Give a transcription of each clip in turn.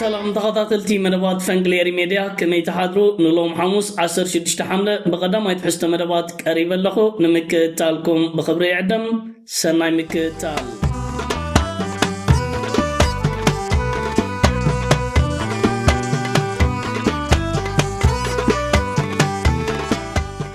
ሰላም ተኸታተልቲ መደባት ፈንቅል ኤሪ ሜድያ ከመይ ትሓድሩ ንሎም ሓሙስ 16 ሓምለ ብቐዳማይ ትሕዝቶ መደባት ቀሪበ ኣለኹ ንምክእታልኩም ብኽብሪ ይዕደም ሰናይ ምክትታል!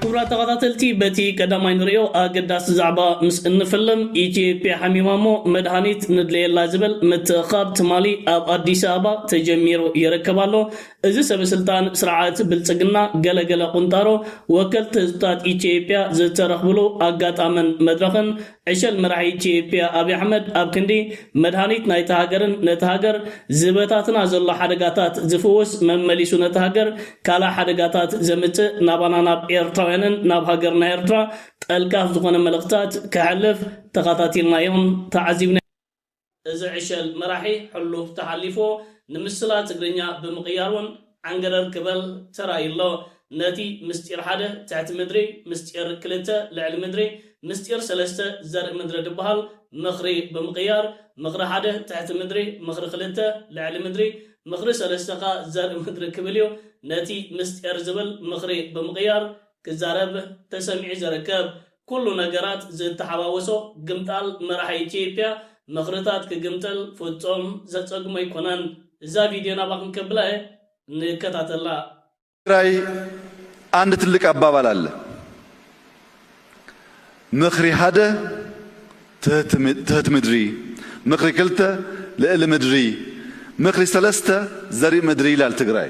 ክቡራት ተኸታተልቲ በቲ ቀዳማይ ንሪኦ ኣገዳሲ ዛዕባ ምስ እንፍልም ኢትዮጵያ ሓሚማ እሞ መድሃኒት ንድለየላ ዝብል ምትእኽኻብ ትማሊ ኣብ ኣዲስ ኣበባ ተጀሚሩ ይርከብ ኣሎ። እዚ ሰበስልጣን ስርዓት ብልጽግና ገለ ገለ ቁንጣሮ ወከልቲ ህዝብታት ኢትዮጵያ ዝተረኽብሉ ኣጋጣምን መድረኽን ዕሸል መራሒ ኢትዮጵያ ኣብይ ኣሕመድ ኣብ ክንዲ መድሃኒት ናይታ ሃገርን ነቲ ሃገር ዝበታትና ዘሎ ሓደጋታት ዝፍውስ መመሊሱ ነቲ ሃገር ካልእ ሓደጋታት ዘምጽእ ናባና ናብ ኤርትራውያንን ናብ ሃገርና ኤርትራ ጠልቃፍ ዝኾነ መልእኽትታት ከሕልፍ ተኻታቲልናዮን ተዓዚብናዮን። እዚ ዕሸል መራሒ ሕሉፍ ተሓሊፍዎ ንምስላ ትግርኛ ብምቕያር ውን ዓንገረር ክበል ተራእዩ ኣሎ። ነቲ ምስጢር ሓደ፣ ትሕቲ ምድሪ፣ ምስጢር ክልተ፣ ልዕሊ ምድሪ፣ ምስጢር ሰለስተ፣ ዘርኢ ምድሪ ድበሃል ምኽሪ ብምቕያር፣ ምኽሪ ሓደ፣ ትሕቲ ምድሪ፣ ምኽሪ ክልተ፣ ልዕሊ ምድሪ፣ ምኽሪ ሰለስተ ከኣ ዘርኢ ምድሪ ክብል እዩ ነቲ ምስጢር ዝብል ምኽሪ ብምቕያር ክዛረብ ተሰሚዑ ዘርከብ። ኩሉ ነገራት ዝተሓዋወሶ ግምጣል መራሒ ኢትዮጵያ ምኽርታት ክግምጥል ፍጹም ዘጸግሞ ኣይኮነን። እዛ ቪድዮ ናባኹም ከብላ እየ። ንከታተላ። ትግራይ አንድ ትልቅ አባባል አለ ምክሪ ሀደ ትህት ምድሪ ምክሪ ክልተ ልእሊ ምድሪ ምክሪ ሰለስተ ዘሪእ ምድሪ ይላል ትግራይ።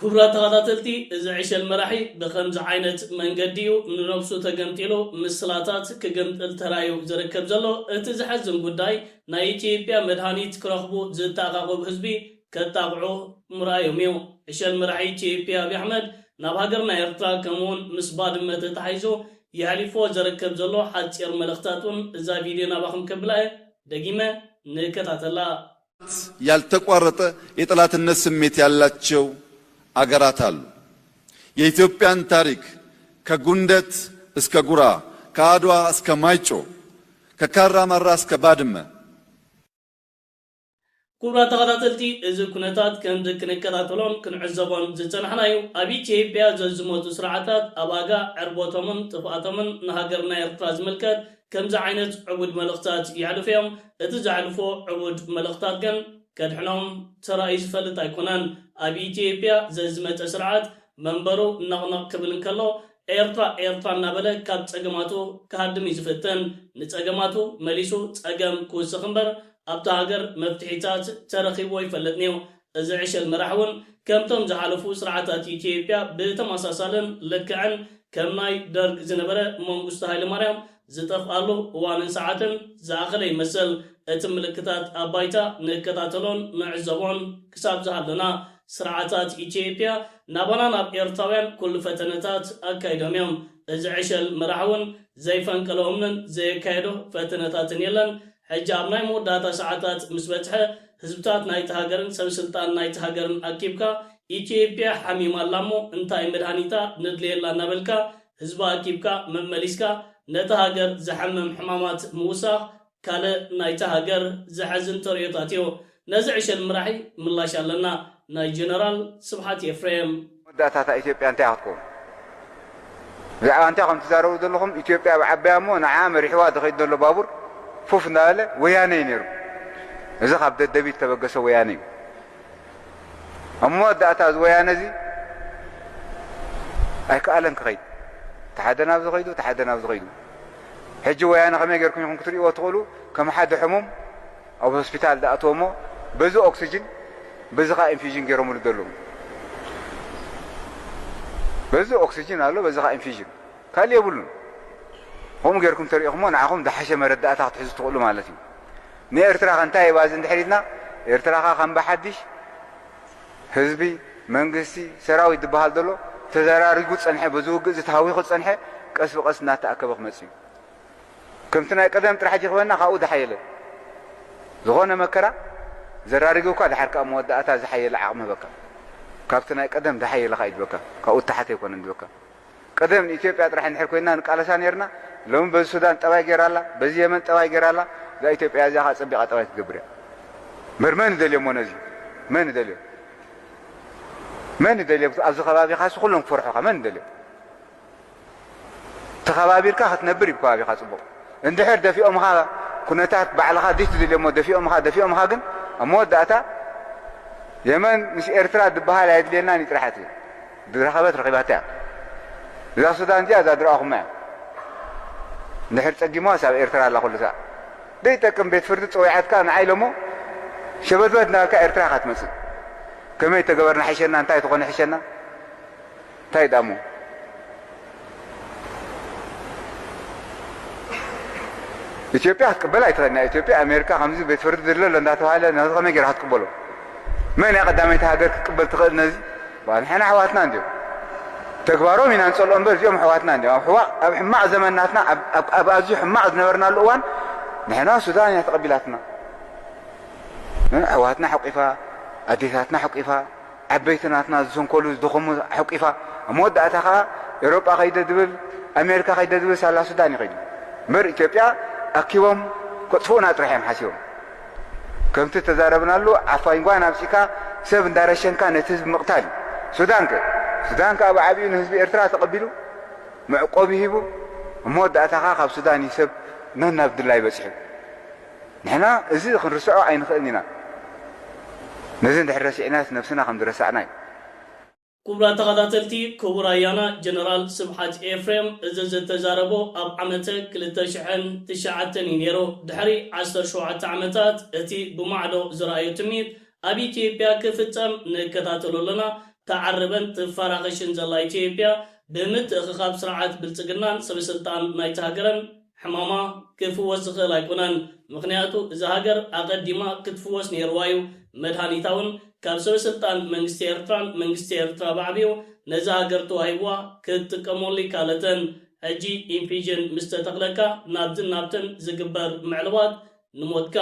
ኩቡራት ተኻታተልቲ እዚ ዕሸል መራሒ ብኸምዚ ዓይነት መንገዲ እዩ ንነብሱ ተገምጢሉ ምስላታት ክግምጥል ተራእዩ ዝርከብ ዘሎ እቲ ዘሐዝን ጉዳይ ናይ ኢትዮጵያ መድሃኒት ክረኽቡ ዝተኣኻኸቡ ህዝቢ ከጣቕዑ ምርኣዮም እዩ ዕሸል መራሒ ኢትዮጵያ ኣብይ ኣሕመድ ናብ ሃገርና ኤርትራ ከምኡውን ምስ ባድመ ተታሒዙ የሕሊፍዎ ዘርከብ ዘሎ ሓጺር መልእኽታት ውን እዛ ቪድዮ ናባኹም ከብላ እየ ደጊመ ንከታተላ። ያልተቋረጠ የጠላትነት ስሜት ያላቸው አገራት አሉ። የኢትዮጵያን ታሪክ ከጉንደት እስከ ጉራ፣ ከአድዋ እስከ ማይጮ፣ ከካራ ማራ እስከ ባድመ፣ ኩቡራት ተኸታተልቲ እዚ ኩነታት ከምዚ ክንከታተሎን ክንዕዘቦን ዝጸናሕናዩ ኣብ ኢትዬጵያ ዘዝመቱ ስርዓታት ኣብ ኣጋ ዕርቦቶምን ጥፍኣቶምን ንሃገርና ኤርትራ ዝምልከት ከምዚ ዓይነት ዕቡድ መልእኽታት የሕልፉ እዮም፣ እቲ ዘሕልፎ ዕቡድ መልእኽታት ግን ከድሕኖም ተራእዩ ዝፈልጥ ኣይኮነን። ኣብ ኢትዮጵያ ዘዝመጸ ስርዓት መንበሩ ነቕነቕ ክብል እንከሎ ኤርትራ ኤርትራ እናበለ ካብ ጸገማቱ ክሃድም እዩ ዝፍትን። ንጸገማቱ መሊሱ ጸገም ክውስኽ እምበር ኣብታ ሃገር መፍትሒታት ተረኺብዎ ኣይፈልጥን'ዩ። እዚ ዕሸል መራሕ ውን ከምቶም ዝሓለፉ ስርዓታት ኢትዮጵያ ብተመሳሳልን ልክዕን ከም ናይ ደርግ ዝነበረ መንጉስቱ ሃይለማርያም ዝጠፍኣሉ እዋንን ሰዓትን ዝኣኸለ ይመስል እቲ ምልክታት ኣብ ባይታ ንከታተሎን ንዕዘቦን ክሳብ ዝሃለና ስርዓታት ኢትዮጵያ ናባና ናብ ኤርትራውያን ኩሉ ፈተነታት ኣካይዶም እዮም እዚ ዕሸል መራሕ ውን ዘይፈንቀሎ እምንን ዘየካየዶ ፈተነታትን የለን ሕጂ ኣብ ናይ መወዳእታ ሰዓታት ምስ በጽሐ፣ ህዝብታት ናይታ ሃገርን ሰብ ስልጣን ናይታ ሃገርን ኣኪብካ፣ ኢትዮጵያ ሓሚማ ኣላ እሞ እንታይ መድሃኒታ ነድልየላ እናበልካ ህዝባ ኣኪብካ መመሊስካ ነታ ሃገር ዘሕምም ሕማማት ምውሳኽ ካልእ ናይታ ሃገር ዘሕዝን ተርእዮታትዮ። ነዚ ዕሸል ምራሒ ምላሽ ኣለና ናይ ጀነራል ስብሓት ኤፍሬም። መወዳእታ እታ ኢትዮጵያ እንታይ እያ ክትከውን? ብዛዕባ እንታይ ኢኹም ትዛረቡ ዘለኹም? ኢትዮጵያ ኣብ ዓባያ እሞ ንዓኣ መሪሕዋ ዝኸይድ ዘሎ ባቡር ፉፍ እንዳበለ ወያነ እዩ ነይሩ። እዚ ካብ ደደቢት ዝተበገሰ ወያነ እዩ። ኣብ መወዳእታ እዚ ወያነ እዚ ኣይከኣለን ክኸይድ። እቲ ሓደ ናብዚ ከይዱ፣ እቲ ሓደ ናብዚ ከይዱ። ሕጂ ወያነ ከመይ ጌርኩም ኢኹም ክትርእይዎ ትኽእሉ? ከም ሓደ ሕሙም ኣብ ሆስፒታል ደኣተወ እሞ በዚ ኦክስጅን በዚ ከኣ ኢንፊዥን ጌሮምሉ ደለዉ በዚ ኦክስጅን ኣሎ በዚ ከኣ ኢንፊዥን ካልእ የብሉን ከምኡ ጌርኩም ተሪኢኹሞ ንዓኹም ዝሓሸ መረዳእታ ክትሕዙ ትኽእሉ ማለት እዩ ንኤርትራ ከ እንታይ ባዚ እንድሕር ኢልና ኤርትራ ከ ከም ብሓድሽ ህዝቢ መንግስቲ ሰራዊት ዝበሃል ዘሎ ተዘራሪጉ ዝጸንሐ በዚ ውግእ እዚ ተሃዊኹ ዝጸንሐ ቀስ ብቐስ እናተኣከበ ክመጽእ እዩ ከምቲ ናይ ቀደም ጥራሕ ጀክበና ካብኡ ዝሓየለ ዝኾነ መከራ ዘራሪግካ ድሓር ከኣ መወዳእታ ዝሓየለ ዓቕሚ ህበካ ካብቲ ናይ ቀደም ዝሓየለ ከኣ ይድበካ ካብኡ እተሓተ ኣይኮነን ድበካ ቀደም ንኢትዮጵያ ጥራሕ እንድሕር ኮይና ንቃለሳ ነርና ሎሚ በዚ ሱዳን ጠባይ ገይራ ኣላ በዚ የመን ጠባይ ገይራ ኣላ እዛ ኢትዮጵያ እዚኣ ከኣ ጸቢቓ ጠባይ ክትገብር እያ እምበር መን ይደልዮሞ ነዚ መን ይደልዮ መን ይደልዮ ኣብዚ ከባቢኻስ ኩሎም ክፈርሑኻ መን ይደልዮ ተኸባቢርካ ክትነብር ዩ ከባቢኻ ፅቡቕ እንድሕር ደፊኦምኻ ኩነታት ባዕልኻ ዲሽ ትድልዮሞ ደፊኦምኻ ደፊኦምኻ ግን ኣብ መወዳእታ የመን ምስ ኤርትራ ድበሃል ኣይድልየናን ዩ ጥራሕት ዩ ዝረኸበት ረኺባታ እያ እዛ ሱዳን እዚኣ እዛ ድረኣኹማ እያ ንድሕር ጸጊሞዋስ ኣብ ኤርትራ ኣላ ኩሉ ሰ ደይጠቅም ቤት ፍርዲ ፀዊዓትካ ንዓይ ሎሞ ሸበትበት ናበልካ ኤርትራ ካ ትመፅእ ከመይ ተገበርና ሕሸና እንታይ ትኾነ ሕሸና እንታይ ድኣ እሞ ኢትዮጵያ ክትቅበል ኣይትኽእል ናይ ኢትዮጵያ ኣሜሪካ ከምዚ ቤት ፍርዲ ድለ ኣሎ እንዳተባሃለ ነዚ ከመይ ጌራ ክትቅበሎ መን እያ ቀዳመይቲ ሃገር ክትቅበል ትኽእል ነዚ በሃል ንሕና ኣሕዋትና እንዲዮም ተግባሮም ኢና ንጸልኦ እምበር እዚኦም ኣሕዋትና እንዲዮም ኣብ ሕዋቕ ኣብ ሕማቕ ዘመን ናትና ኣብ ኣዝዩ ሕማቕ ዝነበርናሉ እዋን ንሕና ሱዳን እያ ተቐቢላትና ኣሕዋትና ሕቂፋ ኣዴታትና ሕቂፋ ዓበይቲ ናትና ዝሰንከሉ ዝደኸሙ ሐቂፋ ኣብ መወዳእታ ከኣ ኤሮጳ ከይደ ዝብል ኣሜሪካ ከይደ ዝብል ሳላ ሱዳን ይኸይዱ እምበር ኢትዮጵያ ኣኪቦም ከጥፍኡና ጥራሕ እዮም ሓሲቦም ከምቲ ተዛረብናሉ ዓፋኝ ጓን ኣብጺካ ሰብ እንዳረሸንካ ነቲ ህዝቢ ምቕታል እዩ ሱዳን ከ ሱዳን ከኣ ብዓብዩ ንህዝቢ ኤርትራ ተቐቢሉ መዕቆቢ ሂቡ እሞ ወዳእታኻ ካብ ሱዳን ይሰብ ነናብ ድላይ በጺሑ ንሕና እዚ ክንርስዖ ኣይንኽእልን ኢና። ነዚ እንድሕር ረሲዕናስ ነብስና ከም ዝረሳዕና እዩ። ኩቡራት ተኻታተልቲ ኩቡር ኣያና ጀነራል ስብሓት ኤፍሬም እዚ ዝተዛረቦ ኣብ ዓመተ ክልተ ሽሕን ትሽዓተን እዩ ነይሩ ድሕሪ ዓሰርተ ሸውዓተ ዓመታት እቲ ብማዕዶ ዝረኣዮ ትምኒት ኣብ ኢትዮጵያ ክፍጸም ንከታተሎ ኣለና ታዓርብን ትፋራኸሽን ዘላ ኢትዮጵያ ብምትእኽኻብ ስርዓት ብልጽግናን ሰበስልጣን ናይታ ሃገርን ሕማማ ክፍወስ ዝኽእል ኣይኮነን ምኽንያቱ እዛ ሃገር ኣቐዲማ ክትፍወስ ኔርዋ ዩ መድሃኒታ ውን ካብ ሰበስልጣን መንግስቲ ኤርትራን መንግስቲ ኤርትራ ባዕቢኡ ነዛ ሃገር ተዋሂብዋ ክትጥቀመሉ ይካለትን ሕጂ ኢንፊዥን ምስ ተተኽለካ ናብዝን ናብትን ዝግበር ምዕልባት ንሞትካ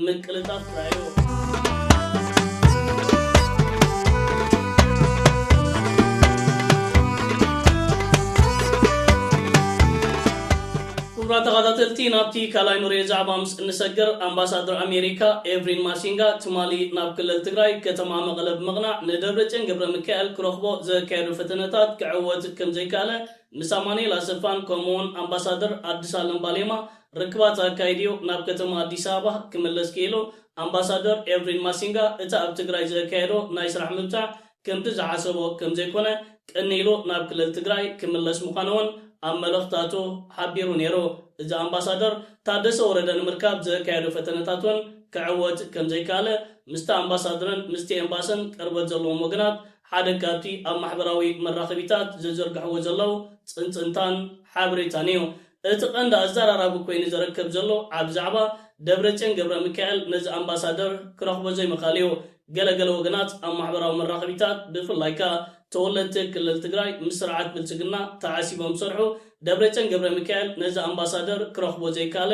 ምቅልጣፍ ጥራይዮ። ክቡራት ተኻታተልቲ ናብቲ ካልኣይ ንሪኦ ዛዕባ ምስ እንሰግር ኣምባሳደር ኣሜሪካ ኤቭሪን ማሲንጋ ትማሊ ናብ ክልል ትግራይ ከተማ መቐለ ብምቕናዕ ንደብረፅዮን ገብረሚካኤል ክረኽቦ ዘካየዶ ፈተነታት ክዕወት ከምዘይከኣለ ምስ ኣማኒኤል ኣሰፋን ከምኡውን ኣምባሳደር ኣዲስ ኣለም ባሌማ ርክባት ኣካይዲዮ ናብ ከተማ ኣዲስ ኣበባ ክምለስ ክኢሉ። ኣምባሳደር ኤርቪን ማሲንጋ እቲ ኣብ ትግራይ ዘካየዶ ናይ ስራሕ ምብጻሕ ከምቲ ዝሓሰቦ ከምዘይኮነ ቅንይ ኢሉ ናብ ክልል ትግራይ ክምለስ ምዃኑ'ውን ኣብ መልእኽታቱ ሓቢሩ ነይሩ። እዚ ኣምባሳደር ታደሰ ወረደ ንምርካብ ዘካየዶ ፈተነታት'ውን ክዕወት ከምዘይከኣለ ምስቲ ኣምባሳድርን ምስቲ ኤምባስን ቅርበት ዘለዎም ወገናት ሓደ ካብቲ ኣብ ማሕበራዊ መራኸቢታት ዝዝርግሕዎ ዘለዉ ጽንጽንታን ሓበሬታን እዩ። እቲ ቀንዲ ኣዘራራቢ ኮይኑ ዘረከብ ዘሎ ዓቢ ዛዕባ፣ ደብረጽዮን ገብረሚካኤል ነዚ ኣምባሳደር ክረኽቦ ዘይምኽኣሉ እዩ። ገለ ገለ ወገናት ኣብ ማሕበራዊ መራኸቢታት ብፍላይ ከኣ ተወለድቲ ክልል ትግራይ ምስ ስርዓት ብልጽግና ተዓሲቦም ዝሰርሑ፣ ደብረጽዮን ገብረሚካኤል ነዚ ኣምባሳደር ክረኽቦ ዘይከኣለ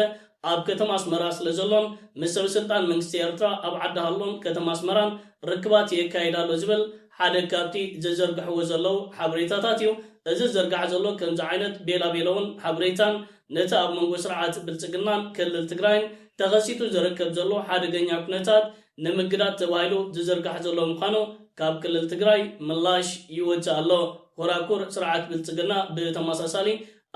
ኣብ ከተማ ኣስመራ ስለ ዘሎን ምስ ሰበስልጣን መንግስቲ ኤርትራ ኣብ ዓዲ ሃሎን ከተማ ኣስመራን ርክባት የካይድ ኣሎ ዝብል ሓደ ካብቲ ዘዘርግሕዎ ዘለዉ ሓበሬታታት እዩ። እዚ ዝዝርጋሕ ዘሎ ከምዚ ዓይነት ቤላቤለውን ሓበሬታን ነቲ ኣብ መንጎ ስርዓት ብልጽግናን ክልል ትግራይን ተኸሲቱ ዝርከብ ዘሎ ሓደገኛ ኩነታት ንምግዳድ ተባሂሉ ዝዝርጋሕ ዘሎ ምዃኑ ካብ ክልል ትግራይ ምላሽ ይወጽእ ኣሎ። ኮራኩር ስርዓት ብልጽግና ብተመሳሳሊ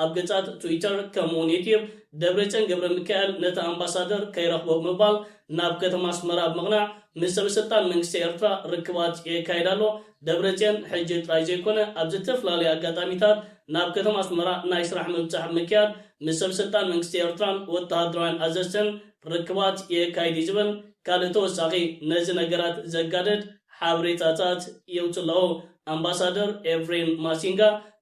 ኣብ ገጻት ትዊተር ከምኡ'ውን ዩትዩብ ደብረጽዮን ገብረሚካኤል ነቲ ኣምባሳደር ከይረኽቦ ብምባል ናብ ከተማ ኣስመራ ብምቕናዕ ምስ ሰበስልጣን መንግስቲ ኤርትራ ርክባት የካይድ ኣሎ። ደብረጽዮን ሕጂ ጥራይ ዘይኮነ ኣብ ዝተፈላለዩ ኣጋጣሚታት ናብ ከተማ ኣስመራ ናይ ስራሕ ምብጻሕ ብምክያድ ምስ ሰብስልጣን መንግስቲ ኤርትራን ወተሃደራውያን ኣዘዝትን ርክባት የካይድ'ዩ ዝብል ካልእ ተወሳኺ ነዚ ነገራት ዘጋድድ ሓበሬታታት የውጽእ ኣሎ። ኣምባሳደር ኤቭሪን ማሲንጋ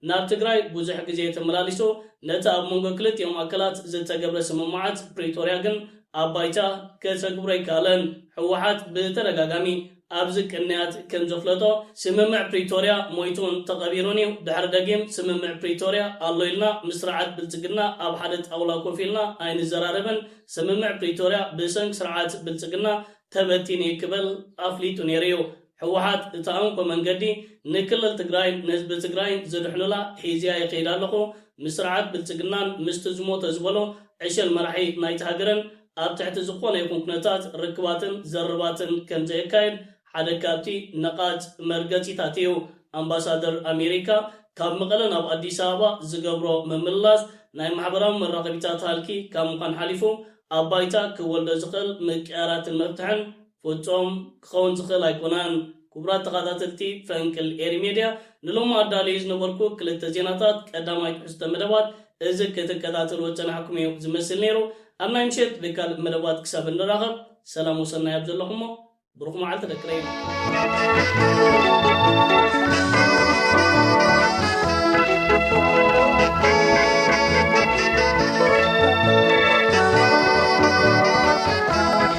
ናብ ትግራይ ብዙሕ ግዜ ተመላሊሱ፣ ነቲ ኣብ መንጎ ክልቲኦም ኣካላት ዝተገብረ ስምምዓት ፕሪቶርያ ግን ኣብ ባይታ ከተግብሮ ኣይከኣለን። ህወሓት ብተደጋጋሚ ኣብዚ ቅንያት ከምዘፍለጦ ስምምዕ ፕሪቶርያ ሞይቱን ተቐቢሩን እዩ፣ ድሕሪ ደጊም ስምምዕ ፕሪቶርያ ኣሎ ኢልና ምስ ስርዓት ብልፅግና ኣብ ሓደ ጣውላ ኮፍ ኢልና ኣይንዘራረብን፣ ስምምዕ ፕሪቶርያ ብሰንኪ ስርዓት ብልፅግና ተበቲኑ እዩ ክብል ኣፍሊጡ ነይሩ እዩ። ህወሓት እታ እንኮ መንገዲ ንክልል ትግራይን ንህዝቢ ትግራይን ዝድሕኑላ ሒዘያ ይኸይድ ኣለኹ ምስ ስርዓት ብልፅግናን ምስቲ ዝሞተ ዝበሎ ዕሸል መራሒ ናይታ ሃገርን ኣብ ትሕቲ ዝኾነ ይኹን ኩነታት ርክባትን ዘርባትን ከምዘየካይድ ሓደ ካብቲ ነቓፅ መርገፂታት እዩ። ኣምባሳደር ኣሜሪካ ካብ መቐለ ናብ ኣዲስ ኣበባ ዝገብሮ ምምልላስ ናይ ማሕበራዊ መራኸቢታት ሃልኪ ካብ ምዃን ሓሊፉ ኣብ ባይታ ክወልዶ ዝኽእል ምቅያራትን መፍትሕን ፍጹም ክኸውን ዝኽእል ኣይኮነን። ኩቡራት ተኻታተልቲ ፈንቅል ኤሪ ሜድያ ንሎሚ ኣዳልየዮ ዝነበርኩ ክልተ ዜናታት ቀዳማይ ትሕዝቶ መደባት እዚ ክትከታተልዎ ዝጸናሕኩም እዩ ዝመስል ነይሩ ኣብ ናይ ምሸት ብካልእ መደባት ክሳብ እንራኸብ ሰላም ወሰናይ ኣብ ዘለኹሞ ብሩኽ መዓልቲ ደቂ ረይ።